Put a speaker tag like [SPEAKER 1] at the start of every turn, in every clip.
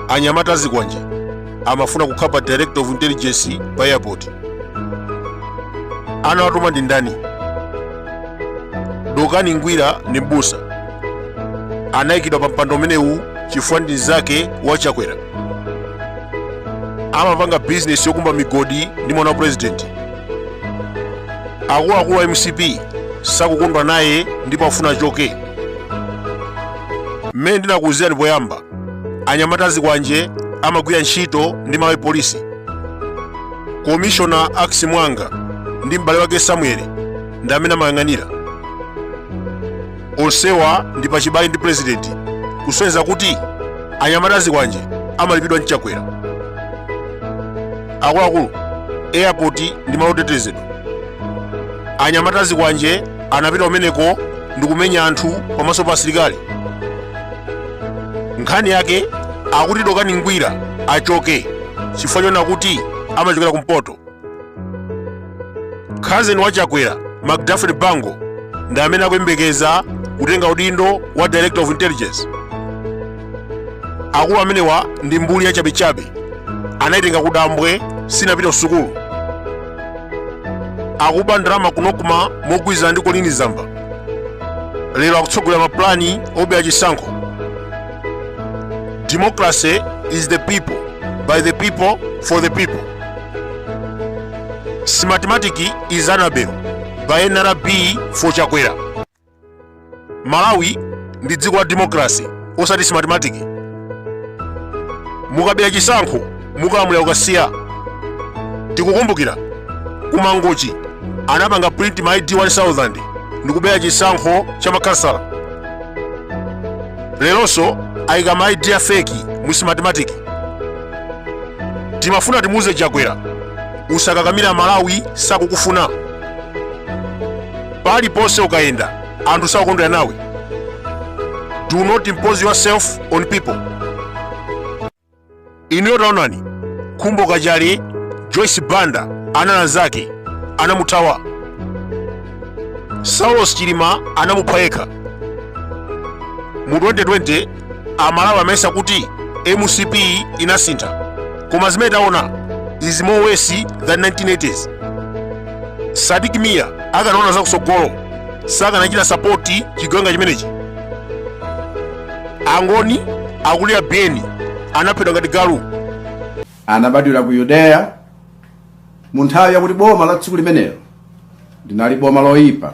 [SPEAKER 1] anyamata azikwanje amafuna kukhala pa director of intelligence pa airport anawatuma ndi ndani dokani ngwira ndi mbusa anayikidwa pa mpando umenewu chifukwa ndi mnzake wa chakwera amapanga bizinesi yokumba migodi ndi mwana wa purezidenti akuluakulu a mcp sakukondwa naye ndipo afuna achoke mmene ndinakuwuzirani poyamba anyamata azikwanje amagwira ntchito ndi malawi polisi komishona Ackis Muwanga ndi m'bale wake samueli ndi amene amayang'anira onsewa ndi pachibale ndi purezidenti kusonyeza kuti anyamata azikwanje amalipidwa ndi chakwera akuluakulu airport ndi malo otetezedwa anyamata azikwanje anapita kumeneko ndikumenya anthu pamaso pa asilikali nkhani yake akuti dokani ngwira achoke chifukwa chonena kuti amachokera kumpoto khazeni wa chakwera macdafrey bango ndi amene akuyembekeza kutenga udindo wa director of intelligence akulu amenewa ndi mbuli yachabechabe anayitenga kudambwe sinapita kusukulu akuba ndalama ku nocma mogwirizana ndi colleen zamba lero akutsogolera mapulani obera chisankho democracy is the people by the people for the people smartmatic is anabel by nrb for chakwera malawi ndi dziko la democracy osati smartmatic mukabera chisankho mukalamulira kukasiya tikukumbukira kumangochi anapanga print ma id 1000 ndikubera chisankho cha makhansala leronso ayika ma id a feki mu smartmatic timafuna timuuze chakwera usakakamira malawi sakukufuna paliponse ukayenda anthu sakukondwera nawe do not impose yourself on people inuyo taonani khumbo kachali joyce banda analanzake anamuthawa saulos chilima anamupha yekha mu 2020 amalawi amayesa kuti mcp inasintha koma zimene taona is more worse than 1980s sadik mia akanaona zakutsogolo sakanachita sapoti chigawenga chimenechi angoni akulira biyeni anaphedwa ngati galu anabadwira ku yudeya mu nthawi yakuti boma la tsiku limenelo linali boma loyipa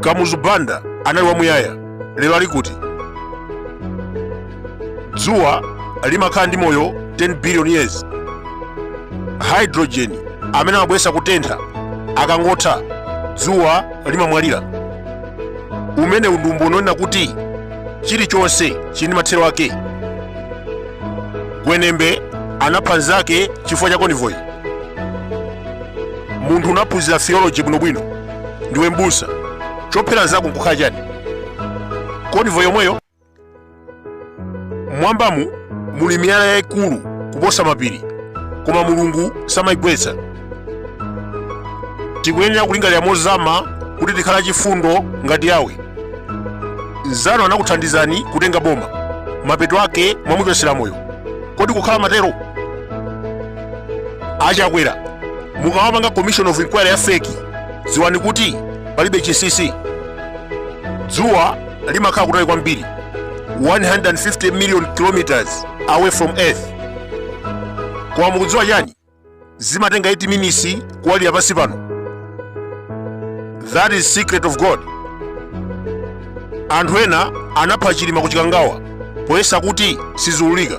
[SPEAKER 1] kamuzu banda anali wamuyaya lero ali kuti dzuwa limakhala ndi moyo 10 billion years hydrogen amene amabweretsa kutentha akangotha dzuwa limamwalira umene undumbo woonetsa kuti chilichonse chili ndi mathero ake gwenembe anapha nzake chifukwa cha konvoyi munthu unaphunzira theology bwinobwino ndiwe mbusa chophera nzako nkukhala chani konivo yomweyo mwambamu muli miyala yayikulu kuposa mapiri koma mulungu samayigwetsa tikuyenera kulingalira mozama kuti tikhale chifundo ngati yawe nzanu anakuthandizani kutenga boma mapeto ake mwamuchotsera moyo kodi kukhala mathero achakwera mukamapanga commission of inquiry ya feki dziwani kuti palibe chinsinsi dzuwa limakhala kutali kwambiri 150 million kilometers away from earth koma mukudziwa chani zimatenga 8 minutes kuwalira pansi pano that is secret of god anthu ena anapha chilima kuchikangawa poyesa kuti siziulika